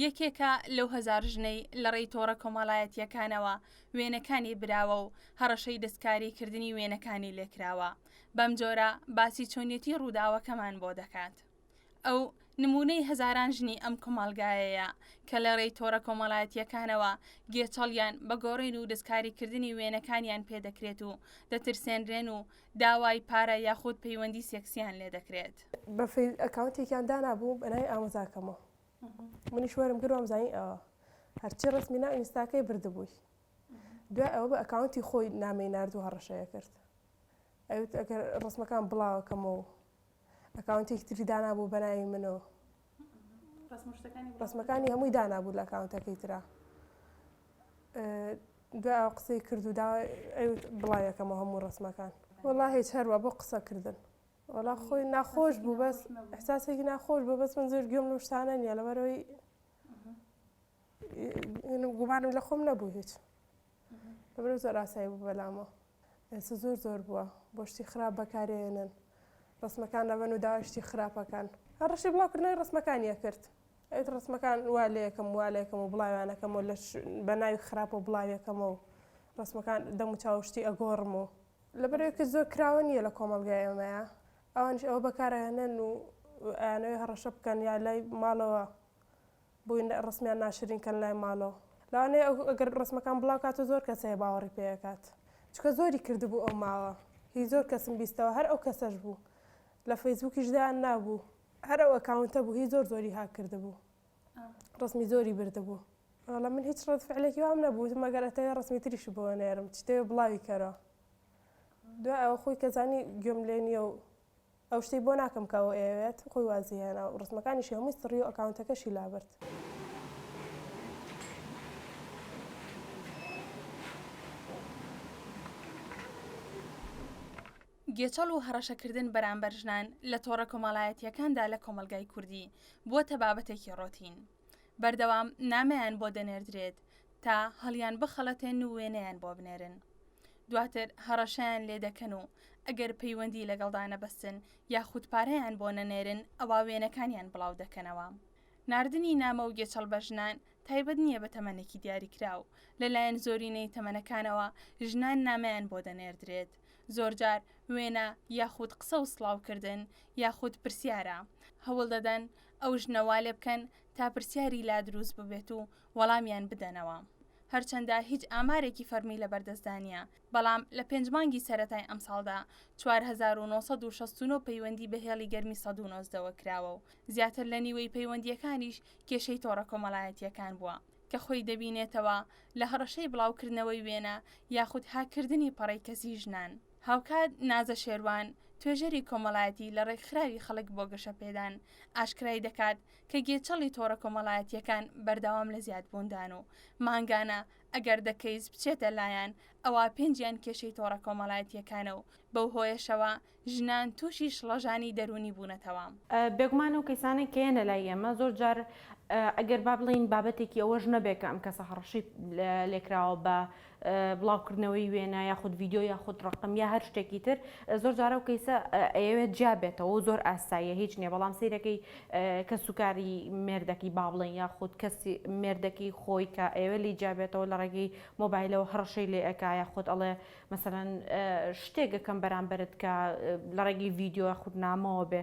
یەکێکە لەو هەزار ژنەی لەڕێی تۆڕە کۆمەڵایەتییەکانەوە وێنەکانی براوە و هەڕەشەی دەستکاریکردنی وێنەکانی لێکراوە، بەمجۆرە باسی چۆنیەتی ڕووداوەکەمان بۆ دەکات. ئەو، نموونەی هەزاران ژنی ئەم کۆمەڵگایەیە کە لەڕێی تۆڕە کۆمەڵایەتییەکانەوە گێچەڵیان بە گۆڕین و دەستکاریکردنی وێنەکانیان پێ دەکرێت و دەترسێنرێن و داوای پارە یاخود پەیوەندی سێکسییان لێدەکرێت. بە فەیک ئەکاونتێکیان دانابوو بەناوی ئامۆزاکەمەوە. منیش وەرم گر وام زانی ئەوە هەرچی ڕسمی ناو ئینستاکەی بردبووی دوای ئەوە بە ئەکاونتی خۆی نامی نرد و هەڕەشەیە کرد ئەوت ئەگەر ڕسمەکان بڵاوەکەمەوە و ئەکاونتێکی تری دانابوو بەناوی منەوە ڕسمەکانی هەمووی دانابوو لە ئەکاونتەکەی تررا دوای ئەو قسەی کرد و دا بڵاوەکەمە هەموو ڕسمەکان وڵا هیچ هەروە بۆ قسەکردن وەڵا خۆی ناخۆش بوو بەس احساسێکی ناخۆش بوو بەس من زۆر گوێم لەو شتانە نییە لەبەرەوەی گومانم لە خۆم نەبوو هیچ لەبەر زۆر ئاسایی بوو بەلامەوە ئێستا زۆر زۆر بووە بۆ شتی خراپ بەکارێنن ڕسمەکان لەبەن و داواشتی خراپەکان هەر ڕشی بڵاوکردنەوەی ڕسمەکانیە کرد ئەت ڕسمەکان وا لەکەم وا لەکەم و بڵاوانەکەم و لە بە ناوی خراپ و بڵاویەکەمە و ڕسمەکان دەم و چاوشتی ئەگۆڕم و لەبەرئەوەیکە زۆر کراوە نییە لە کۆمەڵگای ئێمەیا ئەوانیش ئەوە بەکارئەهێنن و ئەیانەوێ هەڕەشە بکەن یا لای ماڵەوە بۆی ڕەسمیان ناشرین کەن لای ماڵەوە لەوانەیە ئەو ئەگەر ڕەسمەکان بڵاو کاتە زۆر کەس هەیە باوەڕی پێ ئەکات چونکە زۆری کردبوو ئەو ماوە هی زۆر کەسم بیستەوە هەر ئەو کەسەش بوو لە فەیسبووکیش دایان نابوو هەر ئەو ئەکاونتە بوو هی زۆر زۆری هاک کردبوو. ڕەسمی زۆری بردبوو. وەڵا من هیچ ڕەد فعلێکی وام نەبوو وتم ئەگەر ئەتەوێ ڕەسمی تریشی بۆ نێرم چی دەوێ بڵاوی کەرەوە دوای ئەوە خۆی کە زانی گوێم لێ نییە و ئەو شتەی بۆ ناکەم کە ئەوە ئەیەوێت خۆی وازی هێنا و ڕسمەکانیشی هەمووی سڕی و ئەکاونتەکەشی لابرد گێچەڵ و هەڕەشەکردن بەرامبەر ژنان لە تۆڕە کۆمەڵایەتییەکاندا لە کۆمەڵگای کوردی بووەتە بابەتێکی ڕۆتین. بەردەوام نامەیان بۆ دەنێردرێت تا هەڵیان بخەڵەتێن و وێنەیان بۆ بنێرن. دواتر هەڕەشەیان لێ دەکەن و ئەگەر پەیوەندی لەگەڵدا نەبەستن یاخود پارەیان بۆ نەنێرن ئەوا وێنەکانیان بڵاو دەکەنەوە. ناردنی نامە و گێچەڵ بە ژنان تایبەت نییە بە تەمەنێکی دیاریکراو، لەلایەن زۆرینەی تەمەنەکانەوە ژنان نامەیان بۆ دەنێردرێت. زۆرجار وێنە یاخود قسە و سڵاوکردن یاخود پرسیارە، هەوڵ دەدەن ئەو ژنە وا لێ بکەن تا پرسیاری لا دروست ببێت و وەڵامیان بدەنەوە. هەرچەندە هیچ ئامارێکی فەرمی لەبەردەستدا نییە، بەڵام لە پێنج مانگی سەرەتای ئەمساڵدا چوار هەزار و نۆ سەد و شەست و نۆ پەیوەندی بە هێڵی گەرمی سەد و نۆزدە وە کراوە و زیاتر لە نیوەی پەیوەندییەکانیش کێشەی تۆڕە کۆمەڵایەتییەکان بووە. کە خۆی دەبینێتەوە لە هەڕەشەی بڵاوکردنەوەی وێنە یاخود هاککردنی پەڕەی کەسیی ژنان. هاوکات نازە شێروان، توێژەری کۆمەڵایەتی لە ڕێکخراوی خەڵک بۆ گەشەپێدان، ئاشکرای دەکات کە گێچەڵی تۆڕە کۆمەڵایەتییەکان بەردەوام لە زیادبووندان و مانگانە ئەگەر دە کەیس بچێتە لایان ئەوا پێنجیان کێشەی تۆڕە کۆمەڵایەتییەکانە و بەو هۆیەشەوە ژنان تووشی شڵەژانی دەروونی بوونەتەوە. بێگومان ئەو کەیسانەی کە یەنە لای ئێمە زۆر جار ئەگەر با بڵێین بابەتێکی ئەوەش نەبێ کە ئەم کەسە هەڕەشەی لێکراوە بە بڵاوکردنەوەی وێنە یاخود ڤیدیۆ یاخود ڕقم یا هەر شتێکی تر زۆر جارە و کەیسە ئەیەوێت جیا بێتەوە و زۆر ئاساییە هیچ نییە بەڵام سیرەکەی کە سوکاری مێردەکی با بڵێن یاخود کەسی مێردەکی خۆی کە ئێوە لی جیابێتەوە لە ڕێگەی مۆبایلەوە هەڕەشەی لێ ئەکایە خۆت ئەڵێ مەسەلەن شتێک ئەکەم بەرامبەرت کە لە ڕێگەی ڤیدیۆ یاخود نامەوە بێ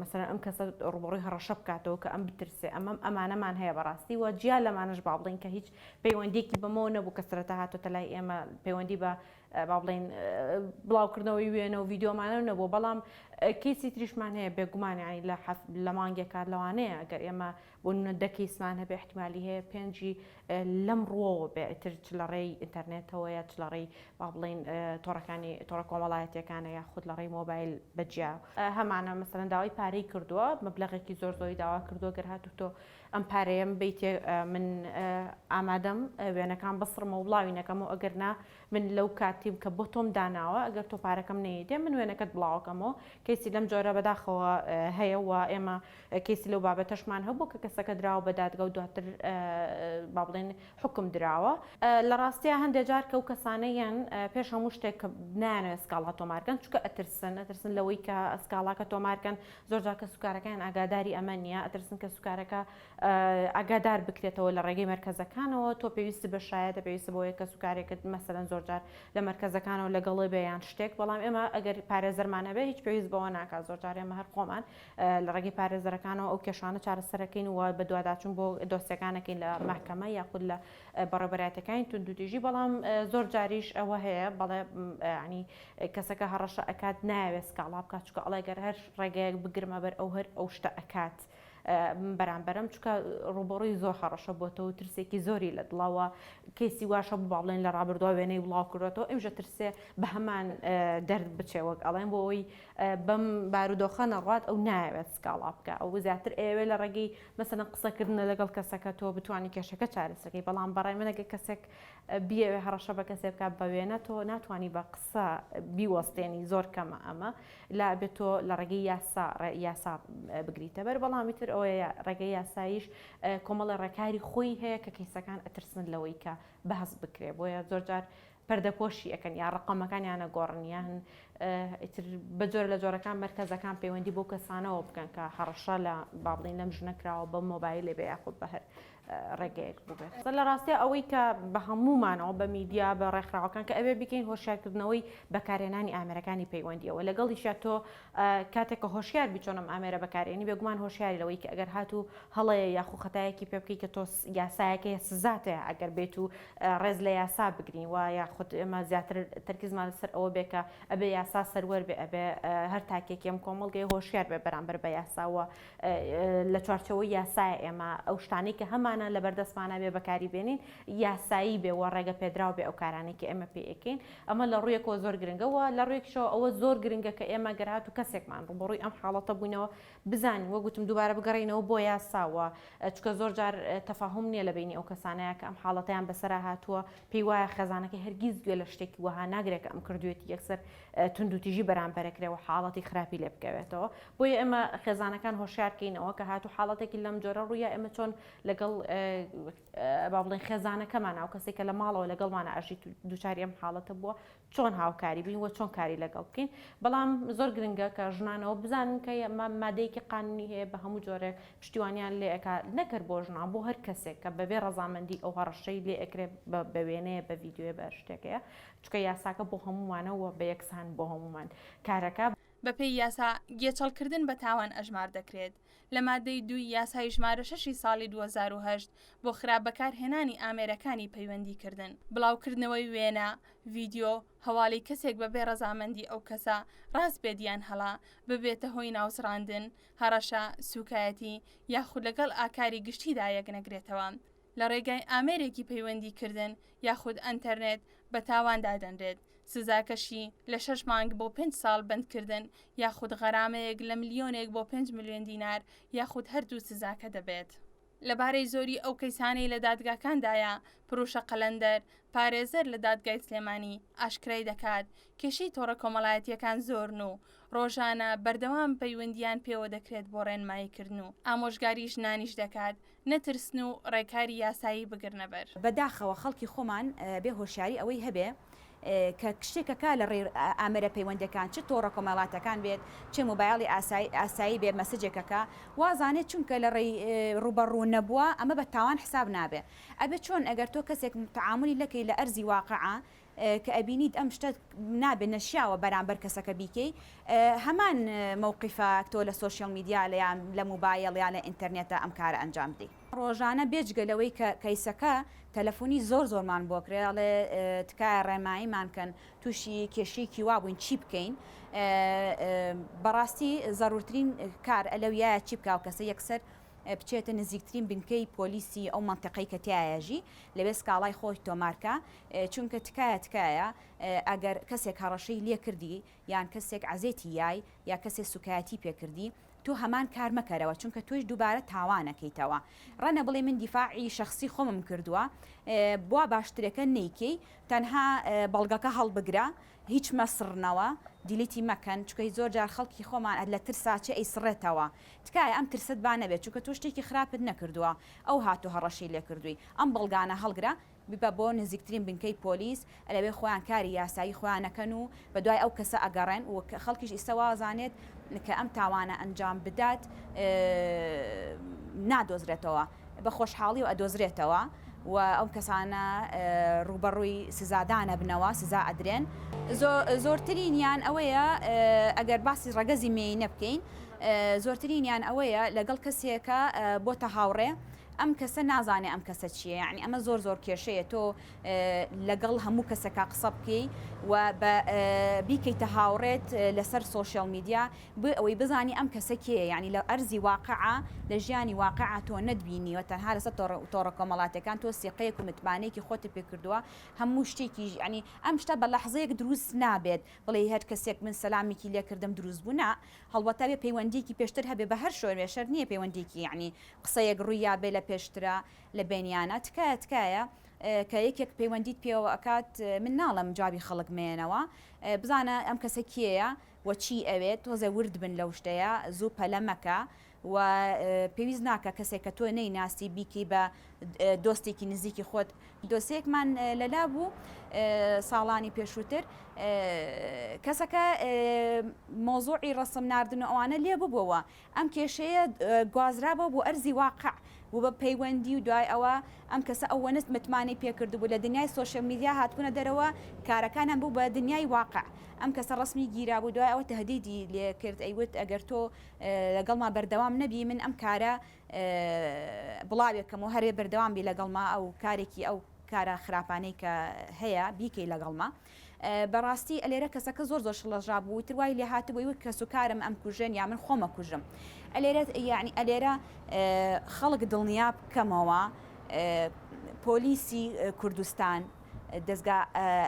مەسەلەن ئەم کەسە ڕووبەڕووی هەڕەشە بکاتەوە کە ئەم بترسێ ئەمەم ئەمانەمان هەیە بەڕاستی و جیا لەمانەش با بڵێین کە هیچ پەیوەندیەکی بەمەوە نەبوو کە سەرەتا هاتۆتە لای ئێمە پەیوەندی بە با بڵێین بڵاوکردنەوەی وێنە و ڤیددیۆمانە نەبوو بەڵام کەیسی تریشمان هەیە بێگومانیانی لە لە مانگێکات لەوانەیە گەر ئێمە بۆ نمونە دە کەیسمان هەبێ ئیحتیمالی هەیە پێنجی لەم ڕووەوە بێ ئیتر چ لە ڕێی ئینتەرنێتەوە یا چ لە ڕێی با بڵێین تۆڕەکانی تۆڕە کۆمەڵایەتیەکانە یا خود لە ڕێی مۆبایل بە جیا هەمانە مەسەلەن داوای پارەی کردووە مەبلەغێکی زۆر زۆری داوا کردووە گەر هاتوو تۆ ئەم پارەیەم بیتێ من ئامادەم وێنەکان بسڕمە و بڵاوی نەکەمەوە ئەگەر نا من لەو کاتیم کە بۆ تۆم داناوە ئەگەر تۆ پارەکەم نەیدێ من وێنەکەت بڵاوەکەمەوە کەسی لەم جۆرە بەداخەوە هەیە و ئێمە کەیسی لەو بابەتەشمان هەبوو کە کەسەکە دراوە بە دادگا و دواتر با بڵێن حوکم دراوە. لە ڕاستیا هەندێ جار کە ئەو کەسانە یەن پێش هەموو شتێک کە نایانەوێت سکاڵا تۆمار کەن چونکە ئەترسن، ئەترسن لەوەی کە سکاڵاکە تۆمار کەن، زۆر جار کەسوکارەکانیان ئاگاداری ئەمە نییە، ئەترسن کەسوکارەکە ئاگادار بکرێتەوە لە ڕێگەی مەرکەزەکانەوە، تۆ پێویستت بە شایەتە، پێویستت بەوەیە کەسوکارێکت مەسەلەن زۆر جار لە مەرکەزەکانەوە لەگەڵێ بێ یان شتێک، بەڵام ئێمە ئەگەر پارێزەرمان هەبێت هیچ پێویست بەوە ناکات، زۆر جار ئێمە هەر خۆمان. لە ڕێگەی پارێزەرەکانەوە ئەو کێشانە چارەسەر دەکەین و بەدواداچوون بۆ دۆسیەکان دەکەین لە مەحکەمە یاخود لە بەڕێوەبەرایەتیەکانی توندوتیژی بەڵام زۆر جاریش ئەوە هەیە بەڵێ ینی کەسەکە هەڕەشە ئەکات ناوێت سکاڵا بکات چکە ئەڵێ گەر هەر ڕێگەیەک بگرمە بەر ئەو هەر ئەو شتە ئەکات. بەرامبەرم چکە ڕوبەڕووی زۆر هەڕەشە بۆتەوە ترسێکی زۆری لە دڵەوە کەسی واشە بباڵێن لە ڕابردووە وێنەی بڵاو کردێتەوە ئەمژە ترسێ بە هەمان دەرد بچێ وەک ئەڵێن بۆ ئەوی بەم بارودۆخە نەڕوات ئەو نایەوێت سکاڵا بکا ئەو زیاتر ئەیەوێت لە ڕێگەی مەسەلەن قسەکردنە لەگەڵ کەسەکە تۆ بتوانی کێشەکە چارەسەر کەی بەڵام بەڕای من ئەگەر کەسێک بیەوێ هەڕەشە بە کەسێک بکات بە وێنە تۆ ناتوانی بە قسە بیوەستێنی زۆر کەمە ئەمە لا ئەبێت تۆ لە ڕێگەی یاسا یاسا بگریتە بەر بەڵامی تر ئەوەیە ڕێگەی یاساییش کۆمەڵی ڕێکاری خۆی هەیە کە کەیسەکان ئەترسن لەوەی کە بەهەست بکرێ بۆیە زۆرجار پەردەپۆشی ئەکەن یا ڕەقەمەکانیان ئەگۆڕن یان ئیتر بە جۆرە لە جۆرەکان مەرکەزەکان پەیوەندی بۆ کەسانەوە بکەن کە هەڕەشە لە با بڵین لەم ژنە کراوە بە مۆبایلێ بێ یاخود بە هەر ڕێگەیەک بووبێت لە ڕاستە ئەوەی کە بە هەموومانەوە بە میدیا بە ڕێکخراوەکان کە ئەوێ بکەین هۆشیارکردنەوەی بەکارهێنانی ئامێرەکانی پەیوەندیەوە لەگەڵیشە تۆ کاتێک کە هۆشیار بی چۆن ئەم ئامێرە بەکارێنی بێگومان هۆشیاری لەوەی کە ئەگەر هاتوو هەڵەیە یاخو خەتایەکی پێ بکەی کە تۆ یاسایەک هەیە سزات هەیە ئەگەر بێیت و ڕێز لە یاسا بگرین و یاخود ئێمە زیاتر تەرکیزمان لەسەر ئەوە بێ کە ئەبێ یاسا سەروەر بێ ئەبێ هەر تاکێکی ئەم کۆمەڵگەیە هۆشیار بێ بەرامبەر بە یاسا و لە چوارچێوەی یاسایە ئێمە ئەو شتانەی کە هەمانە لەبەردەستمانە بێ بەکاری بێنین یاسایی بێ و ڕێگە پێدراو بێ ئەو کارانەی کە ئێمە پێی ئەکەین ئەمە لە ڕوویەکەوە زۆر گرنگە و لە ڕوویەکیشەوە ئەوە زۆر گرنگە کە ئێمە گەر هاتوو کەسێکمان ڕووبەڕووی ئەم حاڵەتە بووینەوە بزانین وەک گوتم دووبارە بگەڕێینەوە بۆ یاسا و چونکە زۆر جار تەفاهوم نییە لە بەینی ئەو کەسانەیا کە ئەم حاڵەتەیان بەسەرا هاتووە پێی وایە خێزانەکەی هەرگیز گوێ لە شتێکی وەها ناگرێ کە ئەم کردوویەتی یەکسەر توندوتیژی بەرامبەرە کرێ و حاڵەتی خراپی لێ بکەوێتەوە بۆیە ئێمە خێزانەکان هۆشیار کەینەوە کە هاتوو حاڵەتێکی لەم جۆرە ڕوویا ئێمە چۆن لەگەڵ با بڵێین خێزانەکەمان ئەو کەسێک کە لە ماڵەوە لەگەڵمانە ئەژیت و دووچاری ئەم حاڵەتە بووە چۆن هاوکاری بین وە چۆن کاری لەگەڵ بکەین بەڵام زۆر گرنگە کە ژنانەوە بزانن کە ئەمە مادەیەکی قانونی هەیە بە هەموو جۆرێک پشتیوانیان لێ ئەکا نەکەر بۆ ژنان بۆ هەر کەسێک کە بەبێ ڕەزامەندی ئەو هەڕەشەی لێ ئەکرێت بە وێنەیە بە ڤیددیوێ بە شتێکەیە چکە یاساکە بۆ هەمومانەوە بە یەکسان بۆ هەمومان کارەکە بەپێی یاسا گێچەڵکردن بە تاوان ئەژمار دەکرێت لە مادەی دووی یاسای ژمارە شەشی ساڵی دوو هەزار و هەشت بۆ خراپ بەکارهێنانی ئامێرەکانی پەیوەندیکردن، بڵاوکردنەوەی وێنە، ڤیدیۆ، هەواڵی کەسێک بەبێ ڕەزامەندی ئەو کەسە، ڕاست بێت یان هەڵە، ببێتە هۆی ناوزڕاندن، هەڕەشە، سووکایەتی، یاخود لەگەڵ ئاکاری گشتیدا یەکنەگرێتەوە. لە ڕێگای ئامێرێکی پەیوەندی کردن یاخود ئەنتەرنێت بە تاوان دادەنرێت، سزاکەشی لە شەش مانگ بۆ پێنج ساڵ بەندکردن یاخود غەرامەیەک لە ملیۆنێک بۆ پێنج ملیۆن دینار یاخود هەردوو سزاکە دەبێت. لەبارەی زۆری ئەو کەیسانەی لە دادگاکاندایە، پروشە قەلەندەر، پارێزەر لە دادگای سلێمانی ئاشکرای دەکات، کێشەی تۆڕە کۆمەڵایەتییەکان زۆرن و ڕۆژانە بەردەوام پەیوەندیان پێوە دەکرێت بۆ ڕێنماییکردن و ئامۆژگاری ژنانیش دەکات نەترسن و ڕێکاری یاسایی بگرنە بەر. بە داخەوە خەڵکی خۆمان بێ هۆشیاری ئەوەی هەبێ کە شتێ کە کا لە ڕێی ئامێرە پەیوەندەکان چ تۆڕە کۆمەڵاتەکان بێت چ مۆبایڵی ئاسایی ئاسایی بێ مەسجێ کە کا وازانێ چونکە لە ڕێی ڕووبە ڕوو نەبووە ئەمە بە تاوان حساب نابێ ئەبێ چۆن ئەگەر تۆ کەسێک تەعامولی لەکەی لە ئەرزی واقعە کە ئەبینیت ئەم شتە نابێ نەشیاوە بەرامبەر کەسەکە بیکەی هەمان مەوقیفە تۆ لە سۆشیاڵ میدیا لە یان لە موبایل یان لە ئینتەرنێتە ئەم کارە ئەنجام بدەی. ڕۆژانە بێجگە لەوەی کە کەیسەکە تەلەفونی زۆر زۆرمان بۆ کرێ ئەڵێ تکایە ڕێنماییمان کەن توشی کێشەیەکی وا بووین چی بکەین بەڕاستی زەرورترین کار لەویایە چی بکا ئەو کەسە یەکسەر بچێتە نزیکترین بنکەی پۆلیسی ئەو مەنتیقەی کە تیایە ژی لەوێ سکاڵای خۆی تۆمار کا چونکە تکایە تکایە ئەگەر کەسێک هەڕەشەی لێ کردی یان کەسێک عەزێتی یای یا کەسێ سوکایەتی پێ کردی تۆ هەمان کار مەکەرەوە چونکە تۆیش دوبارە تاوانەکەیتەوە ڕەنە بڵێ من دیفاع ی شەخسی خۆمم کردوە بوا باشترەکە نەیکەی تەنها بەڵگەکە هەڵبگرە هیچ مەسڕنەوە دیلیتی مەکەن چونکە زۆر جار خەڵکی خۆمان لە ترسا چ ئەیسڕێتەوە تکایە ئەم ترسەت با نەبێت چونکە تۆ شتێکی خراپت نەکردوە ئەو هاتوە هەڕەشەی لێ کردوی ئەم بەڵگانە هەڵگرە ببە بۆ نزیکترین بنکەی پۆلیس لەوێ خۆیان کاری یاسایی خۆیان ئەکەن و بەدوای ئەو کەسە ئەگەڕێن و خەڵکیش ئیستە وا ئەزانێت کە ئەم تاوانە ئەنجام بدات نادۆزرێتەوە بە خۆشحاڵی و ئەدۆزرێتەوە و ئەم کەسانە ڕووبەڕووی سزادان ئەبنەوە سزا ئەدرێن. زۆرترینیان ئەوەیە ئەگەر باسی ڕەگەزی مێینە بکەین زۆرترینیان ئەوەیە لەگەڵ کەسێکە بۆتە هاوڕێ ئەم کەسە نازانێ ئەم کەسە چیە یاعنی ئەمە زۆر زۆر کێشەیە تۆ لەگەڵ هەموو کەسەکە قسە بکەی و بە بیکەیتە هاوڕێت لەسەر سوۆشیال میدیا بۆ ئەوەی بزانی ئەم کەسە کێە یعنی لە ئەرزی واقعە لە ژیانی واقعە تۆ نەتبینی و تەنها لەسەر تۆڕە کۆمەڵاتەکان تۆ سیقەیەک و متمانەیەکی خۆتە پێ کردووە هەموو شتێکی ژیانی ئەم شتە بە لەحزەیەک دروست نابێت بڵێ هەر کەسێک من سەلامێکی لێکردم دروست بوو نا هەڵبەت ئەبێ پەیوەندیەکی پێشتر هەبێ بە هەر شۆێ شەرت نیە پەیوەندیەکی یەعنی قسەیەک ڕویابێ لە پێشترا لە بێنیانا تکایە تکایە کە یەکێک پەیوەندیت پێوە ئەکات من ناڵێم جوابی خەڵک مەیەنەوە بزانە ئەم کەسە کێیە وە چی ئەوێت تۆزێ ورد بن لەو شتەیە زوو پەلە مەکە و پێویست ناکا کەسێک کە تۆ نەیناسی بیکەی بە دۆستێکی نزیکی خۆت. دۆسیەکمان لەلا بوو ساڵانی پێشووتر کەسەکە مەوزوعی ڕەسم ناردن و ئەوانە لێ ببووەوە ئەم کێشەیە گوازرابوو بۆ ئەرزی واقع بوو بە پەیوەندی و دوای ئەوە ئەم کەسە ئەوەنە متمانەی پێکردبوو لە دنیای سۆشیال میدیا هاتبوونە دەرەوە کارەکانیان بوو بە دنیای واقع ئەم کەسە ڕەسمی گیرابوو دوای ئەوە تەهدیدی لێ کرد ئەیوت ئەگەر تۆ لەگەڵما بەردەوام نەبی من ئەم کارە بڵاوێکەمەوە هەرێ بەردەوام بی لەگەڵما ئەو کارێکی ئەو کارە خراپانەی کە هەیە بیکەی لەگەڵما بەڕاستی ئەلێرە کەسەکە زۆر زۆر شڵەژا بوو تر وای لێ هاتبووی وەک کەس و کارم ئەم کوژێن یا من خۆمە کوژم ئەلێرە یعنی ئەلێرە خەڵک دڵنیا بکەمەوە پۆلیسی کوردستان دەستگا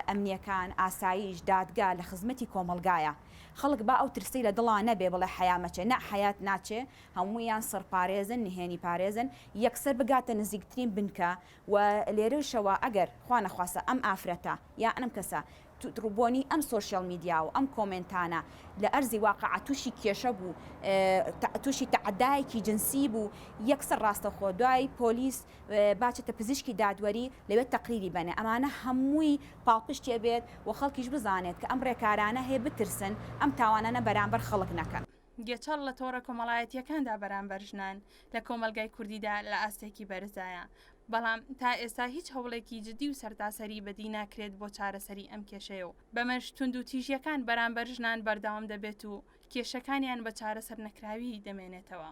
ئەمنیەکان ئاساییش دادگا لە خزمەتی کۆمەلگایە خەڵک با ئەو ترسەی لە دڵا نەبێ بڵێ حەیا مەچێ نا حەیات ناچێ هەموویان سڕ پارێزن نهێنی پارێزن یەکسەر بگاتە نزیکترین بنکە و لێرەوشەوە ئەگەر خوا نەخواستە ئەم ئافرەتە یان ئەم کەسە بۆنی ئەم سۆشیال میدیا و ئەم کۆمێنتانە لە ئەرزی واقع تووشی کێشە بوو تووشی تەعەدایەکی جنسی بوو یەکسەر ڕاستەخۆ دوای پۆلیس با چتە پزیشکی دادوەری لەوێ تەقریری بەنێ ئەمانە هەمووی پاڵپشتی ئەبێت و خەڵکیش بزانێت کە ئەم ڕێکارانە هەیە بترسن ئەم تاوانانە بەرامبەر خەڵک نەکەن. گێچەڵ لە تۆڕە کۆمەڵایەتییەکاندا بەرامبەر ژنان لە کۆمەڵگای کوردیدا لە ئاستێکی بەرزدایە، بەڵام تا ئێستا هیچ هەوڵێکی جددی و سەرتاسەری بەدی ناکرێت بۆ چارەسەری ئەم کێشەیە و بەمەش توندوتیژییەکان بەرامبەر ژنان بەردەوام دەبێت و کێشەکانیان بە چارەسەرنەکراوی دەمێنێتەوە.